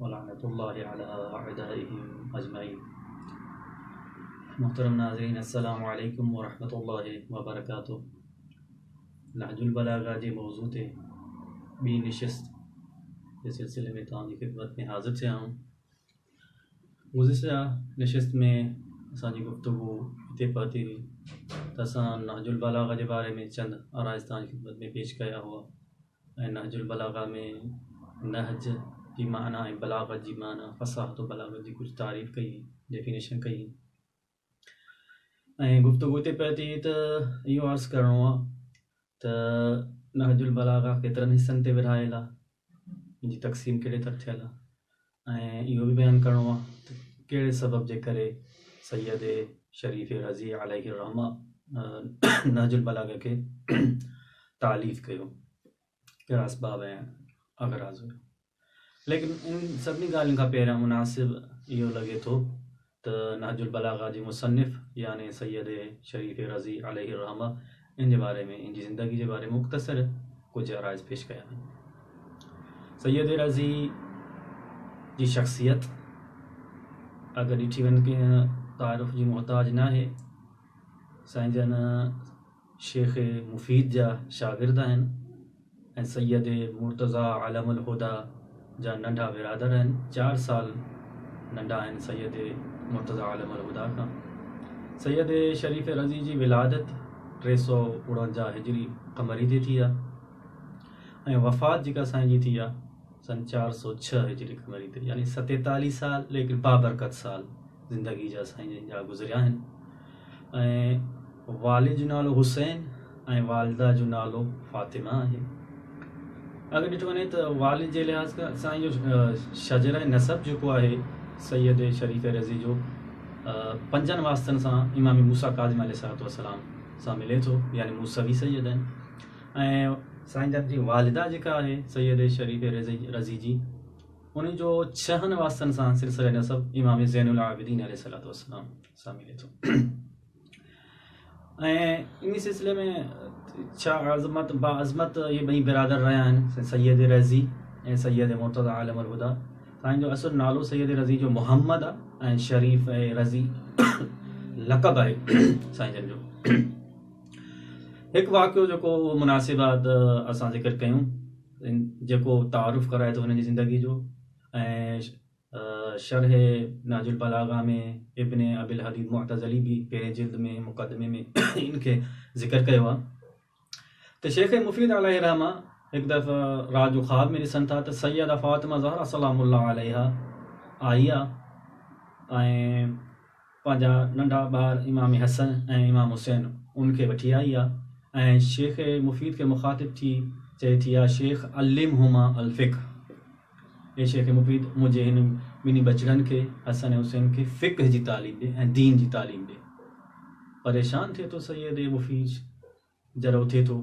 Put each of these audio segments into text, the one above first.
ولعنت الله علي اعدائهم اجمعين محترم ناظرين السلام عليكم ورحمة الله وبرڪاته نهج البلاغه جي موضوع تي ٻي نشست جي سلسلي ۾ توهان جي خدمت ۾ حاضر ٿيا آهيون گذشته نشست ۾ اسان جي گفتگو هتي پهتي هئي ته اسان نهج البلاغه جي باري ۾ چند آرائز توهان جي خدمت ۾ پيش ڪيا هئا ۽ نهج البلاغه ۾ نهج جي معنيٰ ۽ بلاغت جي معنيٰ فصاحت و بلاغت جي ڪجهه تعريف ڪئي، Definition، ڪئي ۽ گفتگو اتي پئي ٿي ته اهو عرض ڪرڻو آهي ته نهج البلاغه ڪيترن حصن تي ورهايل آهي، ان جي تقسيم ڪهڙي طرح ٿيل آهي. ۽ اهو به بيان ڪرڻو آهي ته ڪهڙي سبب جي ڪري سيد شريف رضي عليه الرحمة نهج البلاغه کي تاليف ڪيو ڪهڙا اسباب ۽ اغراض هيا ليڪن ان سڀني ڳالهين کان پهريان مناسب اهو لڳي ٿو ته نهج البلاغه جي مصنف يعني سيد شريف رضي عليه الرحمة ان جي باري ۾ ان جي زندگي جي باري ۾ مختصر ڪجهه عرائض پيش ڪيا آهن. سيد رضي جي شخصيت اگر ڏٺي وڃي ڪنهن تعارف جي محتاج ناهي. سائين جن شيخ مفيد جا شاگرد آهن ۽ سيد مرتضيٰ عالم الهديٰ جا ننڍا برادر آهن، چار سال ننڍا آهن سيد مرتضيٰ عالم الهديٰ کان. سيد شريف رضي جي ولادت ٽي سؤ اڻونجاهه هجري قمري تي ٿي آهي ۽ وفات جيڪا سائين جي ٿي آهي سن چار سؤ ڇهه هجري قمري تي يعني ستيتاليهه سال ليڪن بابرڪت سال زندگي جا سائين جن جا گذريا آهن. ۽ والد جو نالو حسين ۽ والده جو نالو فاطمه آهي. اگر ڏٺو وڃي ته والد جي لحاظ کان سائين جو شجره نسب جيڪو آهي سيد شريف رضي جو پنجن واسطن سان امام موسيٰ ڪاظم عليه الصلوة والسلام سان ملي ٿو يعني موسوي سيد آهن ۽ سائين جن جي والده جيڪا آهي سيد شريف رضي جي ان جو ڇهن واسطن سان سلسله نسب امام زين العابدين عليه الصلوة والسلام سان ملي ٿو ۽ ان سلسلي ۾ ڇا عظمت با عظمت اهي ٻئي برادر رهيا آهن سيد رضي ۽ سيد مرتضی عالم الهدى سائين جو اصل نالو سيد رضي جو محمد آهي ۽ شريف ۽ رضي لقب آهي سائين جن جو هڪ واقعو جيڪو مناسب آهي ته اسان ذڪر ڪيون جيڪو تعارف ڪرائي ٿو هن جي زندگي جو ۽ شرح نهج البلاغه ۾ ابن ابي الحديد معتزلي به پهرين جلد ۾ مقدمي ۾ ان کي ذڪر ڪيو آهي ته شيخ مفيد عليه الرحمه هڪ دفعه رات جو خواب ۾ ڏسن ٿا ته سيده فاطمه زهرا سلام الله عليها آئي آ ۽ پنهنجا ننڍا ٻار امام حسن ۽ امام حسين ان کي وٺي آئي آ ۽ شيخ مفيد کي مخاطب ٿي چئي ٿي يا شيخ علمهما الفقه اي شيخ مفيد منهنجي هن ٻنهي ٻچڙن کي حسن ۽ حسين کي فقه جي تعليم ڏي ۽ دين جي تعليم ڏي پريشان ٿئي ٿو سيد اي مفيد جڏهن اٿي ٿو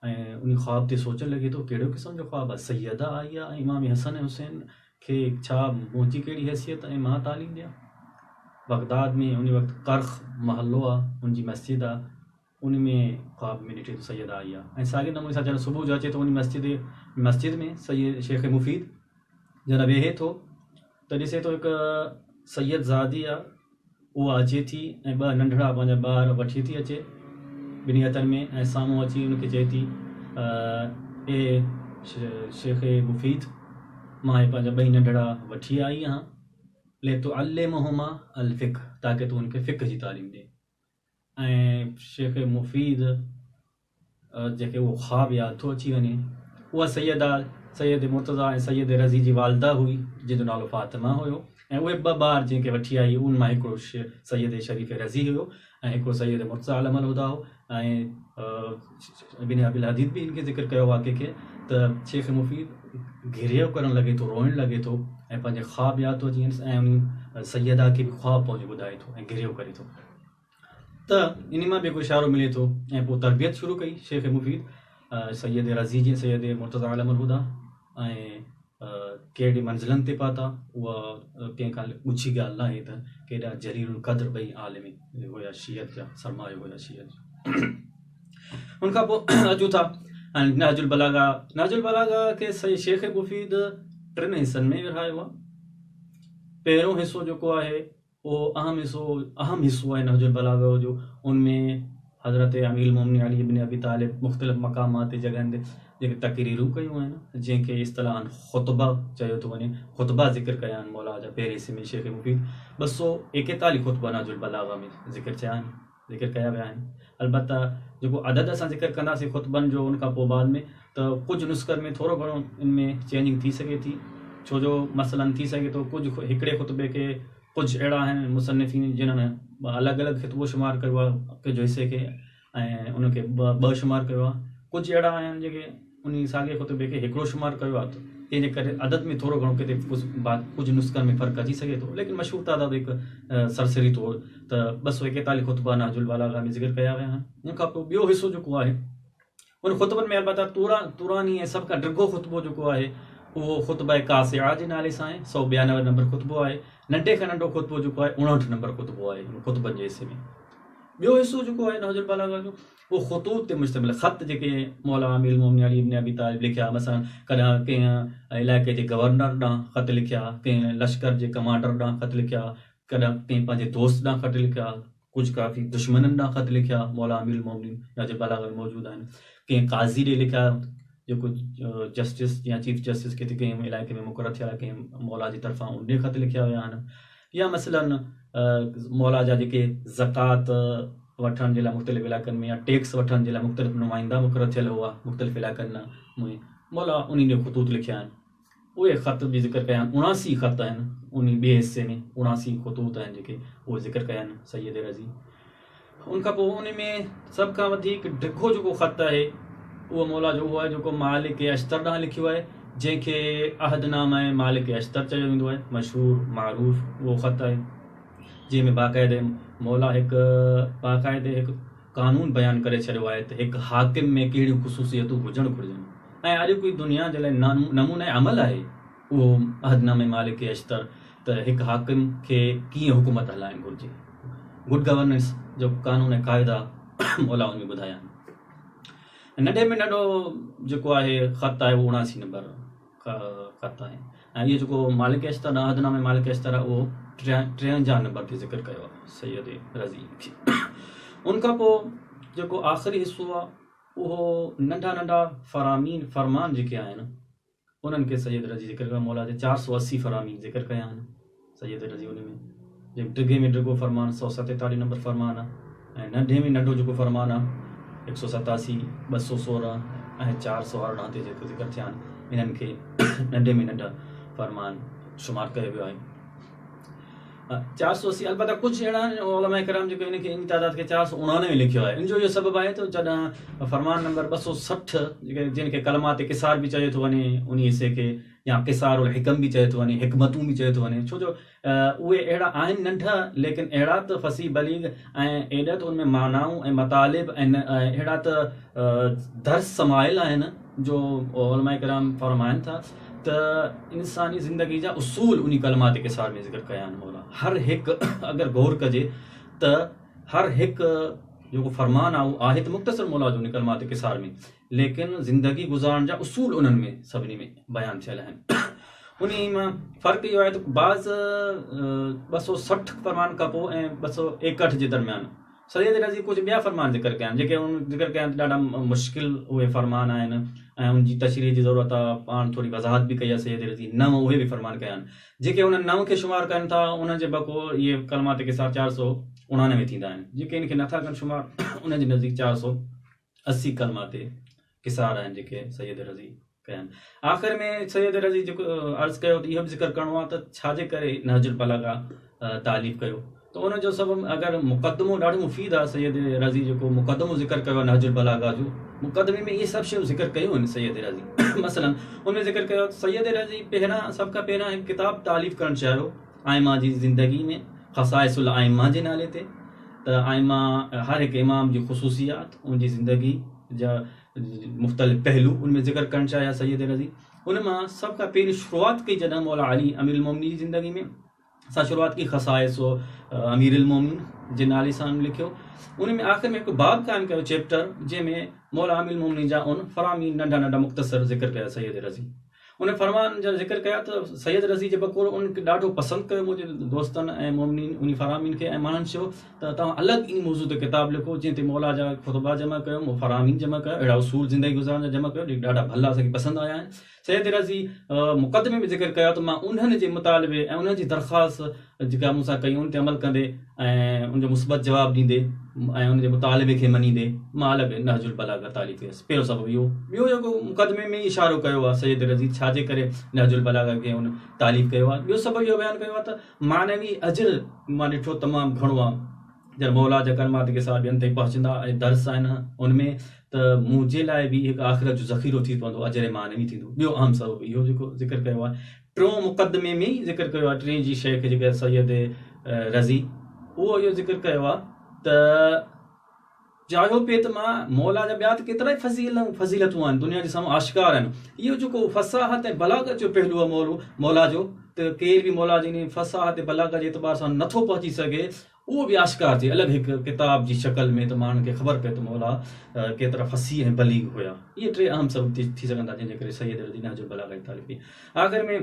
۽ ان خواب تي سوچڻ لڳي ٿو ڪهڙو قسم جو خواب آهي سيده آئي آهي ۽ امام حسن ۽ حسين کي ڇا منهنجي ڪهڙي حيثيت ۽ مان تعليم ڏيان بغداد ۾ ان وقت ڪرخ محلو آهي ان جي مسجد آهي ان ۾ خواب ۾ ڏٺي ٿو سيده آئي آهي ۽ ساڳي نموني سان جڏهن صبح جو اچي ٿو ان مسجد مسجد ۾ سيد شيخ مفيد جڏهن ويهي ٿو ته ڏسي ٿو هڪ سيد زادي آ اها اچي ٿي ۽ ٻه ننڍڙا پنهنجا ٻار وٺي ٿي اچي ٻنهي هٿن ۾ ۽ سامهون اچي ان کي چئي ٿي اي شيخ مفيد مان هي پنهنجا ٻئي ننڍڙا وٺي آئي آهان لتعلمهما الفقه تاڪه تون ان کي فقه جي تعليم ڏي ۽ شيخ مفيد جنهن کي اهو خواب ياد ٿو اچي وڃي، اها سيده سيد مرتضيٰ ۽ سيد رضي جي والده هئي، جنهن جو نالو فاطمه هيو ۽ اهي ٻه ٻار جنهن کي وٺي آئي، ان مان هڪڙو سيد شريف رضي هيو ۽ هڪڙو سيد مرتضيٰ علم الهديٰ هو ۽ ابن ابي الحديث به ان کي ذڪر ڪيو واقعي کي ته شيخ مفيد گريو ڪرڻ لڳي ٿو روئڻ لڳي ٿو ۽ پنهنجي خواب ياد ٿو اچينس ۽ انهي سيده کي به خواب پنهنجو ٻڌائي ٿو ۽ گريو ڪري ٿو ته انهي مان به هڪ اشارو ملي ٿو ۽ پوء تربيت شروع ڪئي شيخ مفيد سيد رضي جي سيد مرتضيٰ عالم الهديٰ ۽ ڪهڙي منزلن تي پهتا، اها ڪنهن کان ڳجهي ڳالهه ناهي ته ڪيڏا جليل القدر ٻئي عالم هيا شيعت جا، سرمايو هيا شيعت جو. ان کان پوء اچون ٿا نهج البلاغه، نهج البلاغه کي سائين شيخ مفيد ٽن حصن ۾ ورهايو آهي. پهريون حصو جيڪو آهي اهو اهم حصو اهم حصو آهي نهج البلاغه جو ان ۾ حضرت امير المومنين علي ابن ابي طالب مختلف مقامات تي جڳهن تي جيڪي تقريرون ڪيون آهن جنهن کي اصطلاحاً خطبه چيو ٿو وڃي خطبه ذڪر ڪيا آهن موليٰ جا پهرين حصي ۾ شيخ مفيد ٻه سؤ ايڪيتاليهه خطبا نهج البلاغه ۾ ذڪر ٿيا آهن ذڪر ڪيا ويا آهن. البته جيڪو عدد اسان ذڪر ڪنداسين خطبن جو ان کان پوء بعد ۾ ته ڪجهه نسخن ۾ ٿورو گهڻو ان ۾ چينجنگ ٿي سگهي ٿي ڇو جو مثلا ٿي سگهي ٿو ڪجهه هڪڙي خطبي کي ڪجهه اهڙا آهن مصنفين جنهن الڳ الڳ خطبو شمار ڪيو آهي ڪجهه حصي کي ۽ ان کي ٻه شمار ڪيو آهي ڪجهه اهڙا آهن جيڪي انهيء ساڳئي خطبي کي هڪڙو شمار ڪيو آهي، تنهن جي ڪري عدد ۾ ٿورو گهڻو ڪٿي ڪجهه نسخن ۾ فرق اچي سگهي ٿو، ليڪن مشهور تعداد هڪ سرسري طور ته ٻه سؤ ايڪيتاليهه خطبا نهج البلاغه ۾ ذڪر ڪيا ويا آهن. ان کان پوء ٻيو حصو جيڪو آهي، انهن خطبن ۾ البته طوراني ۽ سڀ کان ڊگهو خطبو جيڪو آهي، اهو خطبه ڪاسعه جي نالي سان آهي، سؤ ٻيانوي نمبر خطبو آهي. ننڍي کان ننڍو خطبو جيڪو آهي، اڻهٺ نمبر خطبو آهي، ان خطبن جي حصي ۾. ٻيو حصو جيڪو آهي نهج البلاغه جو، اهي خطوط تي مشتمل خط جيڪي مولانا امير المومنين علي ابن ابي طالب لکيا، مثلا ڪڏهن ڪنهن علائقي جي گورنر ڏانهن خط لکيا، ڪنهن لشڪر جي ڪمانڊر ڏانهن خط لکيا، ڪڏهن ڪنهن پنهنجي دوست ڏانهن خط لکيا، ڪجهه ڪافي دشمنن ڏانهن خط لکيا، مولانا امير المومنين جا جي بلاغ ۾ موجود آهن، ڪنهن قاضي ڏي لکيا، جيڪو جسٽس يا چيف جسٽس ڪٿي ڪنهن علائقي ۾ مقرر ٿيل آهي، ڪنهن موليٰ جي طرفان ان ڏي خط لکيا ويا آهن. يا مثلاً مولا جا جيڪي زڪوات وٺڻ جي لاء مختلف علائقن ۾ يا ٽيڪس وٺڻ جي لاء مختلف نمائندا مقرر ٿيل هئا مختلف علائقن ۾ مولا انهن جا خطوط لکيا آهن اهي خط به ذڪر ڪيا آهن اڻاسي خط آهن انهي ٻئي حصي ۾ اڻاسي خطوط آهن جيڪي اهي ذڪر ڪيا آهن سيد رضي ان کان پوء ان ۾ سڀ کان وڌيڪ ڊگهو جيڪو خط آهي اهو مولا جو اهو آهي جيڪو مالڪ اشتر ڏانهن لکيو آهي جنهن کي عهد نامه مالڪ اشتر چيو ويندو آهي مشهور معروف اهو خط آهي جنهن ۾ باقاعدي مولا هڪ باقاعدي هڪ قانون بيان ڪري ڇڏيو آهي ته هڪ حاڪم ۾ ڪهڙيون خصوصيتون هجڻ گهرجن ۽ اڄ ڪوئي دنيا جي لاء نمونه عمل آهي اهو عهدنامي مالڪ کي اشتر ته هڪ حاڪم کي ڪيئن حڪومت هلائڻ گهرجي، Good Governance، جو قانون ۽ قاعدا مولائن ۾ ٻڌايا آهن. ۽ ننڍي ۾ ننڍو جيڪو آهي خط آهي اهو اڻاسي نمبر خط آهي ۽ اهو جيڪو مالڪ اشتر ڏانهن عهدنامي مالڪ اشتر آهي اهو ٽيونجاهه نمبر تي ذڪر ڪيو آهي سيد رضي کي. ان کان پوء جيڪو آخري حصو آهي اهو ننڍا ننڍا فرامين، فرمان، جيڪي آهن، انهن کي سيد رضي ذڪر ڪيو مولا جي چار سؤ اسي فرامين ذڪر ڪيا آهن سيد رضي انهن ۾ جيڪو ڊگهي ۾ ڊگهو فرمان سؤ ستيتاليهه نمبر فرمان آهي ۽ ننڍي ۾ ننڍو جيڪو فرمان آهي هڪ سؤ ستاسي ٻه سؤ سورهن ۽ چار سؤ ارڙهن تي جيڪو ذڪر ٿيا آهن انهن کي ننڍي ۾ ننڍا فرمان شمار ڪيو ويو آهي چار سؤ اسي البته ڪجهه اهڙا آهن علماء ڪرام جيڪو ان کي ان تعداد کي چار سؤ اڻانوي لکيو آهي ان جو اهو سبب آهي ته جڏهن فرمان نمبر ٻه سؤ سٺ جن کي ڪلمات قصار به چيو ٿو وڃي ان حصي کي يا قصار الحڪم به چيو ٿو وڃي حڪمتون به چيو ٿو وڃي ڇو جو اهي اهڙا آهن ننڍا ليڪن اهڙا ته فصيح بليغ ۽ ايڏا ته ان ۾ معنائون ۽ مطالب ۽ اهڙا ته درس سمايل آهن جو علماء ڪرام فرمائن ٿا ته انساني زندگي جا اصول انهي ڪلمات قصار ۾ ذڪر ڪيا آهن مولان هر هڪ اگر غور ڪجي ته هر هڪ جيڪو فرمان آهي اهو آهي ته مختصر مولان جو انهي ڪلمات قصار ۾ ليڪن زندگي گذارڻ جا اصول انهن ۾ سڀني ۾ بيان ٿيل آهن انهي مان فرق اهو آهي ته بعض ٻه سؤ سٺ فرمان کان پوء ۽ ٻه سؤ ايڪهٺ جي درميان سيد رضي ڪجهه ٻيا فرمان ذڪر ڪيا آهن، جيڪي هن ذڪر ڪيا آهن ته ڏاڍا مشڪل اهي فرمان آهن ۽ ان جي تشريح جي ضرورت آهي، پاڻ ٿوري وضاحت به ڪئي آهي سيد رضي، نو اهي به فرمان ڪيا آهن، جيڪي هن نو کي شمار ڪن ٿا، انهن جي بقوع اهي ڪلمات قصار چار سؤ اڻانوي ٿيندا آهن، جيڪي ان کي نٿا ڪن شمار، انهن جي نزديڪ چار سؤ اسي ڪلمات قصار آهن جيڪي سيد رضي ڪيا آهن آخر ۾ سيد رضي جيڪو عرض ڪيو ته اهو به ذڪر ڪرڻو آهي ته ڇا جي ڪري نهج البلاغه تعليف ڪيو ته ان جو سبب اگر مقدمو ڏاڍو مفيد آهي سيد رضي جيڪو مقدمو ذڪر ڪيو آهي نهج البلاغه جو مقدمي ۾ اهي سڀ شيون ذڪر ڪيون آهن سيد رضي مثلا ان ۾ ذڪر ڪيو سيد رضي پهريان سڀ کان پهريان هڪ کتاب تعليف ڪرڻ چاهيو آئمه جي زندگي ۾ خصائص الائمه جي نالي تي ته آئمه هر هڪ امام جي خصوصيات ان جي زندگي جا مختلف پهلو ان ۾ ذڪر ڪرڻ چاهيا سيد رضي ان مان سڀ کان پهرين شروعات ڪئي جڏهن مولا علي امير المومنين جي زندگي ۾ سا شروعات ڪئي خصائص و امير المومنين جي نالي سان لکيو ان ۾ آخر ۾ هڪ باب قائم ڪيو چيپٽر جنهن ۾ مولا امير المومنين جا ان فرامين ننڍا ننڍا مختصر ذڪر ڪيا سيد رضي ان فرمان جو ذڪر ڪيو ته سيد رضي جي بقول ان کي ڏاڍو پسند ڪيو منهنجي دوستن ۽ مؤمنين انهي فرامين کي ۽ ماڻهن چيو ته توهان الڳ انهي موضوع تي ڪتاب لکو جنهن تي مولا جا خطبا جمع ڪيو فرامين جمع ڪيو اهڙا اصول زندگي گذارڻ جا جمع ڪيو جيڪي ڏاڍا ڀلا اسان کي پسند آيا آهن سيد رضي مقدمي ۾ ذڪر ڪيو ته مان انهن جي مطالبي ۽ انهن جي درخواست جيڪا مون سان ڪئي ان تي عمل ڪندي ۽ ان جو مثبت جواب ڏيندي ۽ ان جي مطالبي کي مڃيندي مان الڳ نهج البلاغه تالي ٿيس پهريون سبب اهو ٻيو جيڪو مقدمي ۾ اشارو ڪيو آهي سيد رضي ڇا جي ڪري نهج البلاغه کي ان تالي ڪيو آهي ٻيو سبب اهو بيان ڪيو آهي ته معنوي اجر مان ڏٺو تمام گهڻو آهي جڏهن مولا جا ڪلمات ڪي سال ٻين تائين پهچندا ۽ درس آهن ان ۾ ته منهنجي لاء به هڪ آخرت جو ذخيرو ٿي پوندو اجر معنوي ٿيندو ٻيو اهم سبب اهو جيڪو ذڪر ڪيو آهي ٽيون مقدمي ۾ ئي ذڪر ڪيو آهي ٽين جي شيخ جيڪي آهي سيد رضي اهو اهو ذڪر ڪيو آهي ته چاهيو پي ته مان مولا جا ٻيا ته ڪيترا ئي فضيل فضيلتون آهن دنيا جي سامهون آشڪار آهن اهو جيڪو فصاحت ۽ بلاغت جو پهلو آهي مولو مولا جو ته ڪير به مولا جي ان فصاحت بلاغت جي اعتبار سان نٿو پهچي سگهي اهو به آشڪار ٿئي الڳ هڪ ڪتاب جي شڪل ۾ ته ماڻهن کي خبر پئي ته مولا ڪيترا فصيح ۽ بليغ هيا. اهي ٽي اهم سبب ٿي سگهن ٿا جنهن جي ڪري سيد رضي نهج البلاغه جي تاليف ٿي. آخر ۾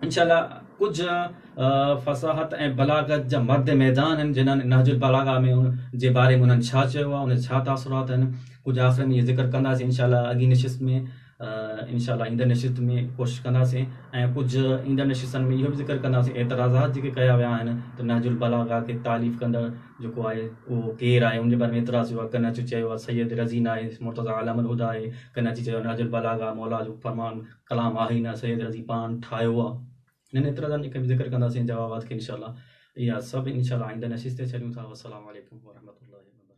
ان شاء الله ڪجهه فصاحت ۽ بلاغت جا مرد ميدان آهن جنهن نهج البلاغه ۾ ان جي باري ۾ انهن ڇا چيو آهي، ان جا ڇا تاثرات آهن، ڪجهه آخر ۾ اهي ذڪر ڪنداسين ان شاء الله اڳين نشست ۾. انشاء الله ايندڙ نشست ۾ ڪوشش ڪنداسين ۽ ڪجهه ايندڙ نشستن ۾ اهو به ذڪر ڪنداسين اعتراضات جيڪي ڪيا ويا آهن ته نهج البلاغه کي تاليف ڪندڙ جيڪو آهي اهو ڪير آهي ان جي باري ۾ اعتراض ٿيو آهي ڪن اچي چيو آهي سيد رضي ناهي مرتضيٰ علام الهديٰ آهي ڪن اچي چيو آهي نهج البلاغه مولا جو فرمان ڪلام آهي ئي نه سيد رضي پاڻ ٺاهيو آهي انهن اعتراضن کي به ذڪر ڪنداسين جوابات کي انشاء الله اها سڀ انشاء الله آئنده نشست تي ڇڏيون ٿا والسلام عليڪم ورحمة الله وبرڪاته.